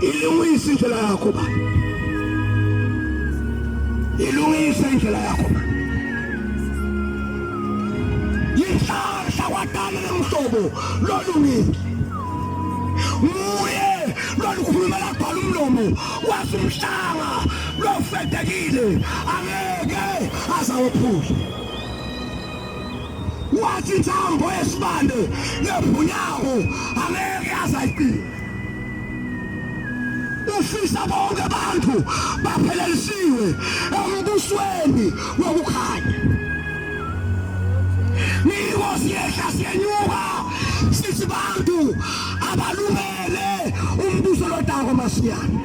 ilungise indlela yakho baba ilungise indlela yakho baba yinhlanhla kwadala lomhlobo lolungile nguye lolukhulumela kubhala umlomo wasimhlanga lofedekile angeke azawophula wathi intambo yesibande nebhunyawo angeke azayiqina ufisa bonke abantu baphelelisiwe embusweni wokukhanya niko siyehla siyenyuka sithi bantu abalungele umbuso lodako masiyana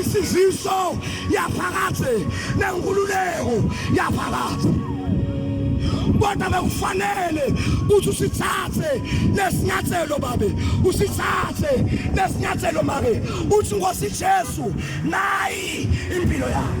isiziso yaphakade nenkululeko yaphakade kodwa bekufanele ukuthi usithathe lesinyathelo babe usithathe lesinyathelo make uthi ngosi Jesu nayi impilo yakho